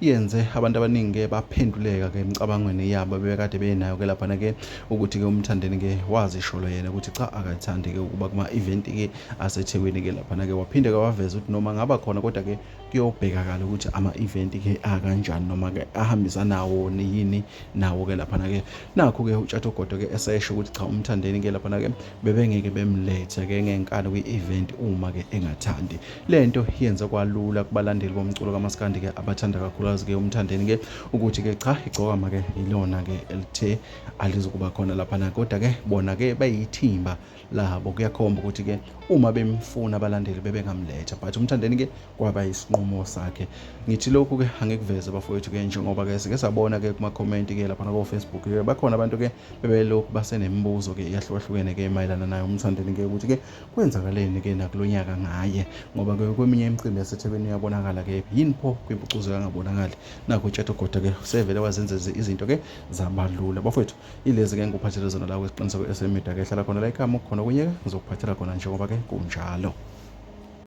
yenze abantu abaningi-ke baphenduleka-ke emicabangweni yabo bebekade benayo-ke laphana-ke ukuthi-ke umthandeni-ke wazisholo yena ukuthi cha akathandi-ke ukuba kuma-eventi-ke asethekwini-ke laphana-ke waphinde-ke waveza ukuthi noma ngaba khona kodwa-ke kuyobhekakala ukuthi ama-eventi-ke akanjani noma-ke ahambisanawo yini nawo-ke laphana-ke nakho-ke utshathogodo-ke esesho ukuthi cha umthandeni-ke laphana-ke bebengeke bemlethe ke ngenkani kwi-event uma ke engathandi le nto yenza kwalula kubalandeli bomculo kamaskandi ke abathanda kakhulukazi ke umthandeni ke ukuthi ke cha igcokama ke yilona ke elithe alizokuba khona laphana kodwa ke bona ke bayithimba labo kuyakhomba ukuthi ke uma bemfuna abalandeli bebengamletha but umthandeni ke kwaba isinqumo sakhe ngithi lokhu ke angikuveze bafowethu ke njengoba ke sike sabona ke kuma-comment ke laphana ko-facebook ke bakhona abantu ke bebelokhu basenemibuzo-ke eyahlukahlukene-ke mayelana naye umthandeni-ke ukuthi-ke kwenzakaleni-ke nakulo nyaka ngaye ngoba-ke kweminye imicimbi yasethekwini uyabonakala-ke yini pho kwimpucuzo kangabonakali nakho utshathogoda-ke sevele wazenza izinto-ke zabalula bafowethu ilezi-ke ngikuphathele zona la kwesiqiniseko esemida-ke hlala khona la ikhama khona okunye-ke ngizokuphathela khona njengoba-ke kunjalo